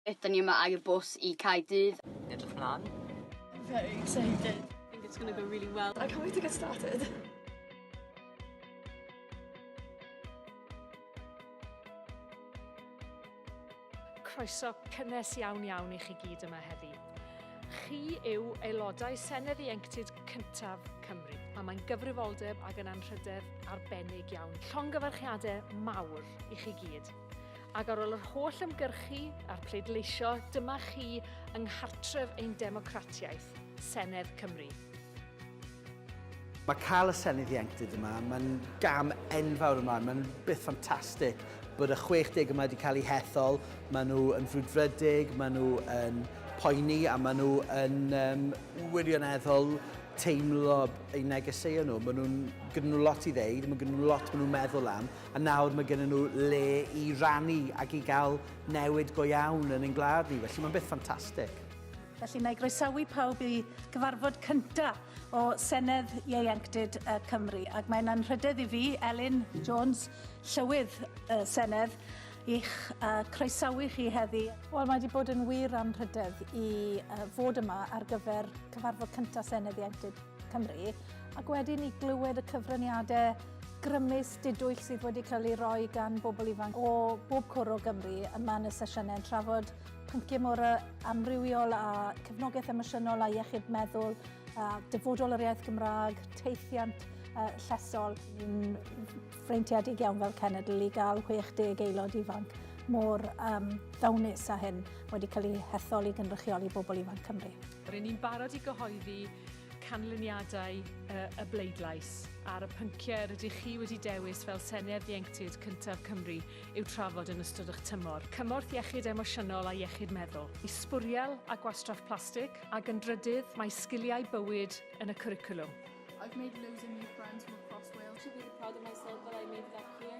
Ydan ni yma air bws i Cae Dydd. Yn edrych mlan. Very excited. Think it's gonna go really well. I can't wait to get started. croeso cynnes iawn iawn i chi gyd yma heddi. Chi yw aelodau Senedd Ieuenctid cyntaf Cymru, a mae'n gyfrifoldeb ac yn anrhydedd arbennig iawn. Llongyfarchiadau mawr i chi gyd. Ac ar ôl yr holl ymgyrchu a'r pleidleisio, dyma chi yng nghartref ein democratiaeth, Senedd Cymru. Mae cael y Senedd Ieuenctid yma, mae'n gam enfawr ymlaen, mae'n beth ffantastig bod y 60 yma wedi cael eu hethol, maen nhw yn frwdfrydig, maen nhw yn poeni a maen nhw yn um, wirioneddol teimlo eu negeseuon nhw. Maen nhw'n gyda nhw lot i ddeud, maen nhw lot maen nhw'n meddwl am, A nawr mae gennym nhw le i rannu ac i gael newid go iawn yn ein gwlad ni, felly mae'n beth ffantastig. Felly na i groesawu pawb i gyfarfod cynta o Senedd Ieuenctid y Cymru ac mae'n anrhydedd i fi, Elin Jones, Llywydd y Senedd, i'ch uh, croesawu chi heddi. Wel, mae wedi bod yn wir anrhydedd i uh, fod yma ar gyfer cyfarfod cynta Senedd Ieuenctid. Cymru, ac wedi ni glywed y cyfraniadau grymus didwyll sydd wedi cael ei roi gan bobl ifanc o bob cwr o Gymru yma yn y sesiynau yn trafod pynciau mor amrywiol a cefnogaeth emosiynol a iechyd meddwl, a dyfodol yr iaith Gymraeg, teithiant uh, llesol. Yn freintiedig iawn fel cenedl i gael 60 aelod ifanc mor um, ddawnus a hyn wedi cael ei hethol i gynrychioli bobl ifanc Cymru. Rydyn ni'n barod i gyhoeddi canlyniadau y, y bleidlais ar y pynciau yr ydych chi wedi dewis fel Senedd Ieuenctid cyntaf Cymru i'w trafod yn ystod eich tymor. Cymorth iechyd emosiynol a iechyd meddwl. I sbwriel a gwastraff plastig a yn drydydd mae sgiliau bywyd yn y cwricwlwm. I've made loads of new friends from across Wales. Should be proud of myself that I made that clear.